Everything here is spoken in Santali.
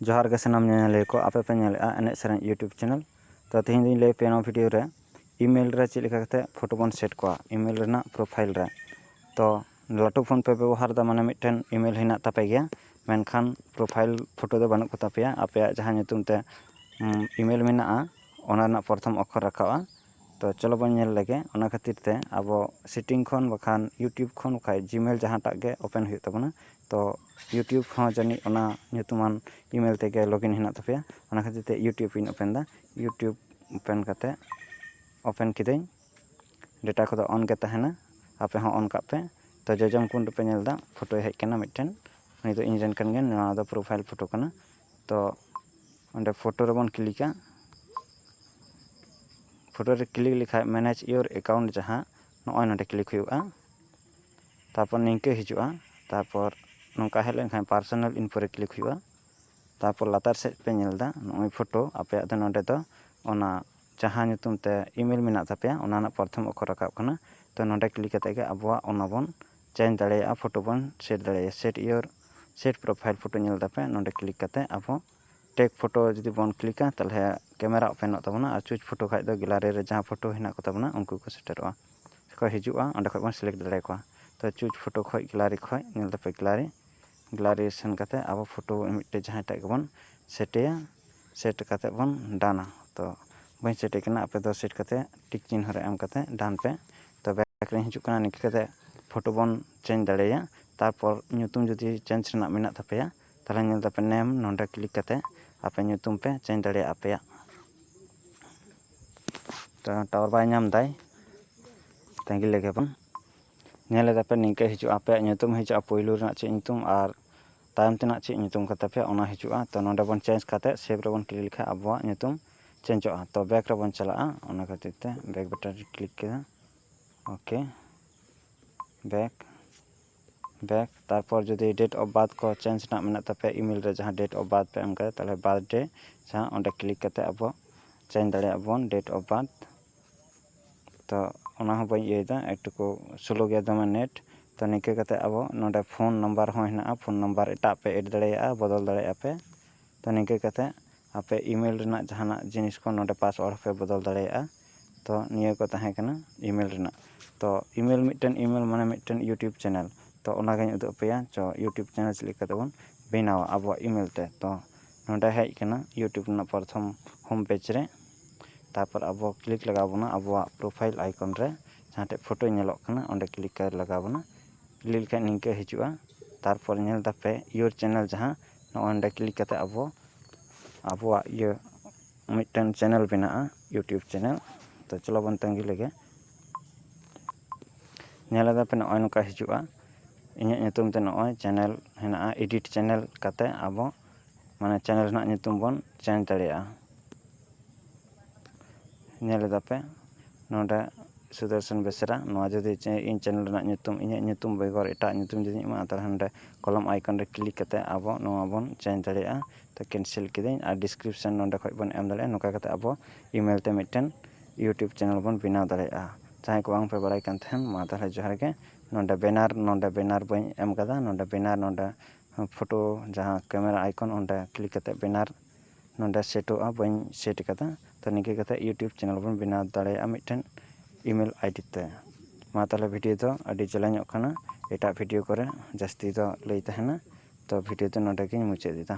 ᱡᱚᱦᱟᱨ ᱜᱮ ᱥᱟᱱᱟᱢ ᱧᱮᱧᱮᱞᱤᱭᱟᱹ ᱠᱚ ᱟᱯᱮ ᱯᱮ ᱧᱮᱞᱮᱫᱼᱟ ᱮᱱᱮᱡ ᱥᱮᱨᱮᱧ ᱤᱭᱩᱴᱩᱵᱽ ᱪᱮᱱᱮᱞ ᱛᱚ ᱛᱮᱦᱮᱧ ᱫᱚᱧ ᱞᱟᱹᱭ ᱟᱯᱮᱭᱟ ᱱᱚᱣᱟ ᱵᱷᱤᱰᱤᱭᱳ ᱨᱮ ᱤᱼᱢᱮᱞ ᱨᱮ ᱪᱮᱫ ᱞᱮᱠᱟ ᱠᱟᱛᱮᱫ ᱯᱷᱳᱴᱳ ᱵᱚᱱ ᱥᱮᱴ ᱠᱚᱜᱼᱟ ᱤᱼᱢᱮᱞ ᱨᱮᱱᱟᱜ ᱯᱨᱳᱯᱷᱟᱭᱤᱞ ᱨᱮ ᱛᱚ ᱞᱟᱹᱴᱩ ᱯᱷᱳᱱ ᱯᱮ ᱵᱮᱵᱚᱦᱟᱨᱮᱫᱟ ᱢᱟᱱᱮ ᱢᱤᱫᱴᱮᱱ ᱤᱼᱢᱮᱞ ᱦᱮᱱᱟᱜ ᱛᱟᱯᱮ ᱜᱮᱭᱟ ᱢᱮᱱᱠᱷᱟᱱ ᱯᱨᱳᱯᱷᱟᱭᱤᱞ ᱯᱷᱳᱴᱳ ᱫᱚ ᱵᱟᱹᱱᱩᱜ ᱠᱚᱛᱟ ᱯᱮᱭᱟ ᱟᱯᱮᱭᱟᱜ ᱡᱟᱦᱟᱸ ᱧᱩᱛᱩᱢ ᱛᱮ ᱤᱼᱢᱮᱞ ᱢᱮᱱᱟᱜᱼᱟ ᱚᱱᱟ ᱨᱮᱱᱟᱜ ᱯᱨᱚᱛᱷᱚᱢ ᱚᱠᱠᱷᱚᱨ ᱨᱟᱠᱟᱵᱼᱟ ᱛᱚ ᱪᱚᱞᱚ ᱵᱚᱱ ᱧᱮᱞ ᱞᱮᱜᱮ ᱚᱱᱟ ᱠᱷᱟᱹᱛᱤᱨ ᱛᱮ ᱟᱵᱚ ᱥᱮᱴᱤᱝ ᱠᱷᱚᱱ ᱵᱟᱠᱷᱟᱱ ᱤᱭᱩᱴᱩᱵᱽ ᱠᱷᱚᱱ ᱵᱟᱠᱷᱟᱱ ᱡᱤᱼᱢᱮᱞ ᱡᱟᱦᱟᱸᱴᱟᱜ ᱜᱮ ᱳᱯᱮᱱ ᱦᱩᱭᱩᱜ ᱛᱟᱵᱚᱱᱟ ᱛᱚ ᱤᱭᱩᱴᱩᱵᱽ ᱦᱚᱸ ᱡᱟᱹᱱᱤᱡ ᱚᱱᱟ ᱧᱩᱛᱩᱢᱟᱱ ᱤᱼᱢᱮᱞ ᱛᱮᱜᱮ ᱞᱚᱜᱤᱱ ᱦᱮᱱᱟᱜ ᱛᱟᱯᱮᱭᱟ ᱚᱱᱟ ᱠᱷᱟᱹᱛᱤᱨ ᱛᱮ ᱤᱭᱩᱴᱩᱵᱽ ᱤᱧ ᱳᱯᱮᱱ ᱮᱫᱟ ᱤᱭᱩᱴᱩᱵᱽ ᱳᱯᱮᱱ ᱠᱟᱛᱮᱫ ᱳᱯᱮᱱ ᱠᱤᱫᱟᱹᱧ ᱰᱮᱴᱟ ᱠᱚᱫᱚ ᱚᱱ ᱜᱮ ᱛᱟᱦᱮᱱᱟ ᱟᱯᱮ ᱦᱚᱸ ᱚᱱ ᱠᱟᱜ ᱯᱮ ᱛᱚ ᱡᱚᱡᱚᱢ ᱠᱚᱬ ᱨᱮᱯᱮ ᱧᱮᱞ ᱮᱫᱟ ᱯᱷᱳᱴᱳ ᱦᱮᱡ ᱟᱠᱟᱱᱟ ᱢᱤᱫᱴᱮᱱ ᱩᱱᱤ ᱫᱚ ᱤᱧ ᱨᱮᱱ ᱠᱟᱱ ᱜᱮᱭᱟᱭ ᱱᱚᱣᱟ ᱫᱚ ᱯᱨᱳᱯᱷᱟᱭᱤᱞ ᱯᱷᱳᱴᱳ ᱠᱟᱱᱟ ᱛᱚ ᱚᱸᱰᱮ ᱯᱷᱳᱴᱳ ᱨᱮᱵᱚᱱ ᱠᱞᱤᱠᱟ ᱯᱷᱳᱴᱳ ᱨᱮ ᱠᱞᱤᱠ ᱞᱮᱠᱷᱟᱱ ᱢᱮᱱᱮᱡᱽ ᱤᱭᱳᱨ ᱮᱠᱟᱣᱩᱱᱴ ᱡᱟᱦᱟᱸ ᱱᱚᱜᱼᱚᱭ ᱱᱚᱰᱮ ᱠᱞᱤᱠ ᱦᱩᱭᱩᱜᱼᱟ ᱛᱟᱨᱯᱚᱨ ᱱᱤᱝᱠᱟᱹ ᱦᱤᱡᱩᱜᱼᱟ ᱛᱟᱨᱯᱚᱨ ᱱᱚᱝᱠᱟ ᱦᱮᱡ ᱞᱮᱱᱠᱷᱟᱱ ᱯᱟᱨᱥᱳᱱᱟᱞ ᱤᱱᱯᱷᱳ ᱨᱮ ᱠᱞᱤᱠ ᱦᱩᱭᱩᱜᱼᱟ ᱛᱟᱨᱯᱚᱨ ᱞᱟᱛᱟᱨ ᱥᱮᱫ ᱯᱮ ᱧᱮᱞ ᱮᱫᱟ ᱱᱚᱜᱼᱚᱭ ᱯᱷᱳᱴᱳ ᱟᱯᱮᱭᱟᱜ ᱫᱚ ᱱᱚᱰᱮ ᱫᱚ ᱚᱱᱟ ᱡᱟᱦᱟᱸ ᱧᱩᱛᱩᱢ ᱛᱮ ᱤᱼᱢᱮᱞ ᱢᱮᱱᱟᱜ ᱛᱟᱯᱮᱭᱟ ᱚᱱᱟ ᱨᱮᱱᱟᱜ ᱯᱨᱚᱛᱷᱚᱢ ᱚᱠᱠᱷᱚᱨ ᱨᱟᱠᱟᱵ ᱠᱟᱱᱟ ᱛᱳ ᱱᱚᱰᱮ ᱠᱞᱤᱠ ᱠᱟᱛᱮᱫ ᱜᱮ ᱟᱵᱚᱣᱟᱜ ᱚᱱᱟ ᱵᱚᱱ ᱪᱮᱧᱡᱽ ᱫᱟᱲᱮᱭᱟᱜᱼᱟ ᱯᱷᱳᱴᱳ ᱵᱚᱱ ᱥᱮᱴ ᱫᱟᱲᱮᱭᱟᱜᱼᱟ set your set profile photo ᱧᱮᱞ ᱮᱫᱟᱯᱮ ᱱᱚᱰᱮ ᱠᱞᱤᱠ ᱠᱟᱛᱮᱫ ᱟᱵᱚ ᱴᱮᱠ ᱯᱷᱳᱴᱳ ᱡᱩᱫᱤ ᱵᱚᱱ ᱠᱞᱤᱠᱟ ᱛᱟᱦᱚᱞᱮ ᱠᱮᱢᱮᱨᱟ ᱳᱯᱮᱱᱚᱜ ᱛᱟᱵᱚᱱᱟ ᱟᱨ ᱪᱩᱡᱽ ᱯᱷᱳᱴᱳ ᱠᱷᱟᱱ ᱫᱚ ᱜᱮᱞᱟᱨᱤ ᱨᱮ ᱡᱟᱦᱟᱸ ᱯᱷᱳᱴᱳ ᱦᱮᱱᱟᱜ ᱠᱚᱛᱟ ᱵᱚᱱᱟ ᱩᱱᱠᱩ ᱠᱚ ᱥᱮᱴᱮᱨᱚᱜᱼᱟ ᱥᱮᱠᱚ ᱦᱤᱡᱩᱜᱼᱟ ᱚᱸᱰᱮ ᱠᱷᱚᱱ ᱵᱚᱱ ᱥᱤᱞᱮᱠᱴ ᱫᱟᱲᱮ ᱟᱠᱚᱣᱟ ᱛᱳ ᱪᱩᱡᱽ ᱯᱷᱳᱴᱳ ᱠᱷᱚᱱ ᱜᱮᱞᱟᱨᱤ ᱠᱷᱚᱱ ᱧᱮᱞ ᱛᱟᱯᱮ ᱜᱮᱞᱟᱨᱤ ᱜᱮᱞᱟᱨᱤ ᱥᱮᱱ ᱠᱟᱛᱮᱫ ᱟᱵᱚ ᱯᱷᱳᱴᱳ ᱢᱤᱫᱴᱮᱱ ᱡᱟᱦᱟᱸᱭ ᱴᱟᱜ ᱜᱮᱵᱚᱱ ᱥᱮᱴᱮᱭᱟ ᱥᱮᱴ ᱠᱟᱛᱮᱫ ᱵᱚᱱ ᱰᱟᱱᱟ ᱛᱳ ᱵᱟᱹᱧ ᱥᱮᱴᱮ ᱠᱟᱱᱟ ᱟᱯᱮ ᱫᱚ ᱥᱮᱴ ᱠᱟᱛᱮᱫ ᱴᱤᱠ ᱪᱤᱱᱦᱟᱹ ᱨᱮ ᱮᱢ ᱠᱟᱛᱮᱫ ᱰᱟᱱ ᱯᱮ ᱛᱳ ᱵᱮᱠ ᱨᱤᱧ ᱦᱤᱡᱩᱜ ᱠᱟᱱᱟ ᱱᱤᱝᱠᱟᱹ ᱠᱟᱛᱮᱫ ᱯᱷᱳᱴᱳ ᱵᱚᱱ ᱪᱮᱧᱡᱽ ᱫᱟᱲᱮᱭᱟᱜᱼᱟ ᱛᱟᱨᱯᱚᱨ ᱧᱩᱛᱩᱢ ᱡᱩᱫᱤ ᱪᱮᱧᱡᱽ ᱨᱮᱱᱟᱜ ᱢᱮᱱᱟᱜ ᱛᱟᱯᱮᱭᱟ ᱛᱟᱦᱚᱞᱮ ᱧᱮᱞ ᱛᱟᱯᱮ ᱱᱮᱢ ᱱᱚᱰᱮ ᱠᱞᱤᱠ ᱠᱟᱛᱮ ᱟᱯᱮ ᱧᱩᱛᱩᱢ ᱯᱮ ᱪᱮᱧᱡᱽ ᱫᱟᱲᱮᱭᱟᱜᱼᱟ ᱟᱯᱮᱭᱟᱜ ᱴᱟᱣᱟᱨ ᱵᱟᱭ ᱧᱟᱢ ᱫᱟᱭ ᱛᱟᱺᱜᱤ ᱞᱮᱜᱮ ᱵᱚᱱ ᱧᱮᱞ ᱮᱫᱟᱯᱮ ᱱᱤᱝᱠᱟᱹ ᱦᱤᱡᱩᱜᱼᱟ ᱟᱯᱮᱭᱟᱜ ᱧᱩᱛᱩᱢ ᱦᱤᱡᱩᱜᱼᱟ ᱯᱳᱭᱞᱳ ᱨᱮᱱᱟᱜ ᱪᱮᱫ ᱧᱩᱛᱩᱢ ᱟᱨ ᱛᱟᱭᱚᱢ ᱛᱮᱱᱟᱜ ᱪᱮᱫ ᱧᱩᱛᱩᱢ ᱠᱟᱱ ᱛᱟᱯᱮᱭᱟ ᱚᱱᱟ ᱦᱤᱡᱩᱜᱼᱟ ᱛᱚ ᱱᱚᱰᱮ ᱵᱚᱱ ᱪᱮᱧᱡᱽ ᱠᱟᱛᱮ ᱥᱮᱵᱷ ᱨᱮᱵᱚᱱ ᱠᱞᱤᱠ ᱞᱮᱠᱷᱟᱡ ᱟᱵᱚᱣᱟᱜ ᱧᱩᱛᱩᱢ ᱪᱮᱧᱡᱚᱜᱼᱟ ᱛᱚ ᱵᱮᱠ ᱨᱮᱵᱚᱱ ᱪᱟᱞᱟᱜᱼᱟ ᱚᱱᱟ ᱠᱷᱟᱹᱛᱤᱨ ᱛᱮ ᱵᱮᱠ ᱵᱟᱴᱚᱱ ᱨᱮ ᱠᱞᱤᱠ ᱠᱮᱫᱟ ᱳᱠᱮ ᱵᱮᱠ ᱵᱮᱠ ᱛᱟᱨᱯᱚᱨ ᱡᱩᱫᱤ ᱰᱮᱴ ᱚᱯᱷ ᱵᱟᱨᱛᱷ ᱠᱚ ᱪᱮᱧᱡᱽ ᱨᱮᱱᱟᱜ ᱢᱮᱱᱟᱜ ᱛᱟᱯᱮᱭᱟ ᱤᱼᱢᱮᱞ ᱨᱮ ᱡᱟᱦᱟᱸ ᱰᱮᱴ ᱚᱯᱷ ᱵᱟᱨᱛᱷ ᱯᱮ ᱮᱢ ᱠᱟᱫᱟ ᱛᱟᱦᱚᱞᱮ ᱵᱟᱨᱛᱷ ᱰᱮ ᱡᱟᱦᱟᱸ ᱚᱸᱰᱮ ᱠᱞᱤᱠ ᱠᱟᱛᱮ ᱟᱵᱚ ᱪᱮᱧᱡᱽ ᱫᱟᱲᱮᱭᱟᱜ ᱵᱚᱱ ᱰᱮᱴ ᱚᱯᱷ ᱵᱟᱨᱛᱷ ᱛᱚ ᱚᱱᱟ ᱦᱚᱸ ᱵᱟᱹᱧ ᱤᱭᱟᱹᱭᱮᱫᱟ ᱮᱠᱴᱩᱠᱩ ᱥᱞᱳ ᱜᱮᱭᱟ ᱫᱚᱢᱮ ᱱᱮᱴ ᱛᱚ ᱱᱤᱝᱠᱟᱹ ᱠᱟᱛᱮ ᱟᱵᱚ ᱱᱚᱰᱮ ᱯᱷᱳᱱ ᱱᱟᱢᱵᱟᱨ ᱦᱚᱸ ᱦᱮᱱᱟᱜᱼᱟ ᱯᱷᱳᱱ ᱱᱟᱢᱵᱟᱨ ᱮᱴᱟᱜ ᱯᱮ ᱮᱰ ᱫᱟᱲᱮᱭᱟᱜᱼᱟ ᱵᱚᱫᱚᱞ ᱫᱟᱲᱮᱭᱟᱜᱼᱟ ᱯᱮ ᱛᱚ ᱱᱤᱝᱠᱟᱹ ᱠᱟᱛᱮ ᱟᱯᱮ ᱤᱼᱢᱮᱞ ᱨᱮᱱᱟᱜ ᱡᱟᱦᱟᱱᱟᱜ ᱡᱤᱱᱤᱥ ᱠᱚ ᱱᱚᱰᱮ ᱯᱟᱥᱚᱣᱟᱨᱰ ᱦᱚᱸᱯᱮ ᱵᱚᱫᱚᱞ ᱫᱟᱲᱮᱭᱟᱜᱼᱟ ᱛᱚ ᱱᱤᱭᱟᱹ ᱠᱚ ᱛᱟᱦᱮᱸ ᱠᱟᱱᱟ ᱤᱼᱢᱮᱞ ᱨᱮᱱᱟᱜ ᱛᱚ ᱤᱼᱢᱮᱞ ᱢᱤᱫᱴᱮᱱ ᱤᱼᱢᱮᱞ ᱢᱟᱱᱮ ᱢᱤᱫᱴᱮᱱ ᱤᱭᱩᱴᱩᱵᱽ ᱪᱮᱱᱮᱞ ᱛᱚ ᱚᱱᱟᱜᱤᱧ ᱩᱫᱩᱜ ᱟᱯᱮᱭᱟ ᱛᱚ ᱤᱭᱩᱴᱩᱵᱽ ᱪᱮᱱᱮᱞ ᱪᱮᱫ ᱞᱮᱠᱟ ᱛᱮᱵᱚᱱ ᱵᱮᱱᱟᱣᱟ ᱟᱵᱚᱣᱟᱜ ᱤᱼᱢᱮᱞ ᱛᱮ ᱛᱚ ᱱᱚᱰᱮ ᱦᱮᱡ ᱠᱟᱱᱟ ᱤᱭᱩᱴᱩᱵᱽ ᱨᱮᱱᱟᱜ ᱯᱨᱚᱛᱷᱚᱢ ᱦᱳᱢ ᱯᱮᱡᱽ ᱨᱮ ᱛᱟᱨᱯᱚᱨ ᱟᱵᱚ ᱠᱞᱤᱠ ᱞᱟᱜᱟᱣ ᱵᱚᱱᱟ ᱟᱵᱚᱣᱟᱜ ᱯᱨᱳᱯᱷᱟᱭᱤᱞ ᱟᱭᱠᱚᱱ ᱨᱮ ᱡᱟᱦᱟᱸ ᱴᱷᱮᱱ ᱯᱷᱳᱴᱳ ᱧᱮᱞᱚᱜ ᱠᱟᱱᱟ ᱚᱸᱰᱮ ᱠᱞᱤᱠ ᱞᱟᱜᱟᱣ ᱵᱚᱱᱟ ᱠᱞᱤᱠ ᱞᱮᱠᱷᱟᱱ ᱱᱤᱝᱠᱟᱹ ᱦᱤᱡᱩᱜᱼᱟ ᱛᱟᱨᱯᱚᱨ ᱧᱮᱞ ᱫᱟᱯᱮ ᱤᱭᱳᱨ ᱪᱮᱱᱮᱞ ᱡᱟᱦᱟᱸ ᱱᱚᱜᱼᱚᱭ ᱱᱚᱰᱮ ᱠᱞᱤᱠ ᱠᱟᱛᱮᱫ ᱟᱵᱚ ᱟᱵᱚᱣᱟᱜ ᱤᱭᱟᱹ ᱢᱤᱫᱴᱟᱱ ᱪᱮᱱᱮᱞ ᱵᱮᱱᱟᱜᱼᱟ ᱤᱭᱩᱴᱩᱵᱽ ᱪᱮᱱᱮᱞ ᱛᱚ ᱪᱚᱞᱚ ᱵᱚᱱ ᱛᱟᱺᱜᱤ ᱞᱮᱜᱮ ᱧᱮᱞ ᱮᱫᱟ ᱯᱮ ᱱᱚᱜᱼᱚᱭ ᱱᱚᱝᱠᱟ ᱦᱤᱡᱩᱜᱼᱟ ᱤᱧᱟᱹᱜ ᱧᱩᱛᱩᱢ ᱛᱮ ᱱᱚᱜᱼᱚᱭ ᱪᱮᱱᱮᱞ ᱦᱮᱱᱟᱜᱼᱟ ᱮᱰᱤᱴ ᱪᱮᱱᱮᱞ ᱠᱟᱛᱮᱫ ᱟᱵᱚ ᱢᱟᱱᱮ ᱪᱮᱱᱮᱞ ᱨᱮᱱᱟᱜ ᱧᱩᱛᱩᱢ ᱵᱚᱱ ᱪᱮᱧᱡᱽ ᱫᱟᱲᱮᱭᱟᱜᱼᱟ ᱧᱮᱞ ᱮᱫᱟᱯᱮ ᱱᱚᱸᱰᱮ ᱥᱩᱫᱚᱨᱥᱚᱱ ᱵᱮᱥᱨᱟ ᱱᱚᱣᱟ ᱡᱩᱫᱤ ᱤᱧ ᱪᱮᱱᱮᱞ ᱨᱮᱱᱟᱜ ᱧᱩᱛᱩᱢ ᱤᱧᱟᱹᱜ ᱧᱩᱛᱩᱢ ᱵᱮᱜᱚᱨ ᱮᱴᱟᱜ ᱧᱩᱛᱩᱢ ᱡᱩᱫᱤᱧ ᱮᱢᱟᱜᱼᱟ ᱛᱟᱦᱚᱞᱮ ᱱᱚᱸᱰᱮ ᱠᱚᱞᱚᱢ ᱟᱭᱠᱚᱱ ᱨᱮ ᱠᱞᱤᱠ ᱠᱟᱛᱮ ᱟᱵᱚ ᱱᱚᱣᱟ ᱵᱚᱱ ᱪᱮᱧᱡᱽ ᱫᱟᱲᱮᱭᱟᱜᱼᱟ ᱛᱚ ᱠᱮᱱᱥᱮᱞ ᱠᱤᱫᱟᱹᱧ ᱟᱨ ᱰᱤᱥᱠᱨᱤᱯᱥᱚᱱ ᱱᱚᱸᱰᱮ ᱠᱷᱚᱡ ᱵᱚᱱ ᱮᱢ ᱫᱟᱲᱮᱭᱟᱜᱼᱟ ᱱᱚᱝᱠᱟ ᱠᱟᱛᱮ ᱟᱵᱚ ᱤᱼᱢᱮᱞ ᱛᱮ ᱢᱤᱫᱴᱮᱱ ᱤᱭᱩᱴᱩᱵᱽ ᱪᱮᱱᱮᱞ ᱵᱚᱱ ᱵᱮᱱᱟᱣ ᱫᱟᱲᱮᱭᱟᱜᱼᱟ ᱡᱟᱦᱟᱸᱭ ᱠᱚ ᱵᱟᱝ ᱯᱮ ᱵᱟᱲᱟᱭ ᱠᱟᱱ ᱛᱟᱦᱮᱱ ᱢᱟ ᱛᱟᱦᱚᱞᱮ ᱡᱚᱦᱟᱨ ᱜᱮ ᱱᱚᱸᱰᱮ ᱵᱮᱱᱟᱨ ᱱᱚᱸᱰᱮ ᱵᱮᱱᱟᱨ ᱵᱟᱹᱧ ᱮᱢ ᱠᱟᱫᱟ ᱱᱚᱸᱰᱮ ᱵᱮᱱᱟᱨ ᱱᱚᱸᱰᱮ ᱯᱷᱚᱴᱳ ᱡᱟᱦᱟᱸ ᱠᱮᱢᱮᱨᱟ ᱟᱭᱠᱚᱱ ᱚᱸᱰᱮ ᱠᱞᱤᱠ ᱠᱟᱛᱮ ᱵᱮᱱᱟᱨ ᱱᱚᱰᱮ ᱥᱮᱴᱚᱜᱼᱟ ᱵᱟᱹᱧ ᱥᱮᱴ ᱠᱟᱫᱟ ᱛᱚ ᱱᱤᱝᱠᱟᱹ ᱠᱟᱛᱮ ᱤᱭᱩᱴᱩᱵᱽ ᱪᱮᱱᱮᱞ ᱵᱚᱱ ᱵᱮᱱᱟᱣ ᱫᱟᱲᱮᱭᱟᱜᱼᱟ ᱢᱤᱫᱴᱮᱱ ᱤᱼᱢᱮᱞ ᱟᱭᱰᱤ ᱛᱮ ᱢᱟ ᱛᱟᱦᱚᱞᱮ ᱵᱷᱤᱰᱤᱭᱳ ᱫᱚ ᱟᱹᱰᱤ ᱡᱮᱞᱮᱧᱚᱜ ᱠᱟᱱᱟ ᱮᱴᱟᱜ ᱵᱷᱤᱰᱤᱭᱳ ᱠᱚᱨᱮ ᱡᱟᱹᱥᱛᱤ ᱫᱚ ᱞᱟᱹᱭ ᱛᱟᱦᱮᱱᱟ ᱛᱚ ᱵᱷᱤᱰᱤᱭᱳ ᱫᱚ ᱱᱚᱰᱮ ᱜᱮᱧ ᱢᱩᱪᱟᱹᱫ ᱮᱫᱟ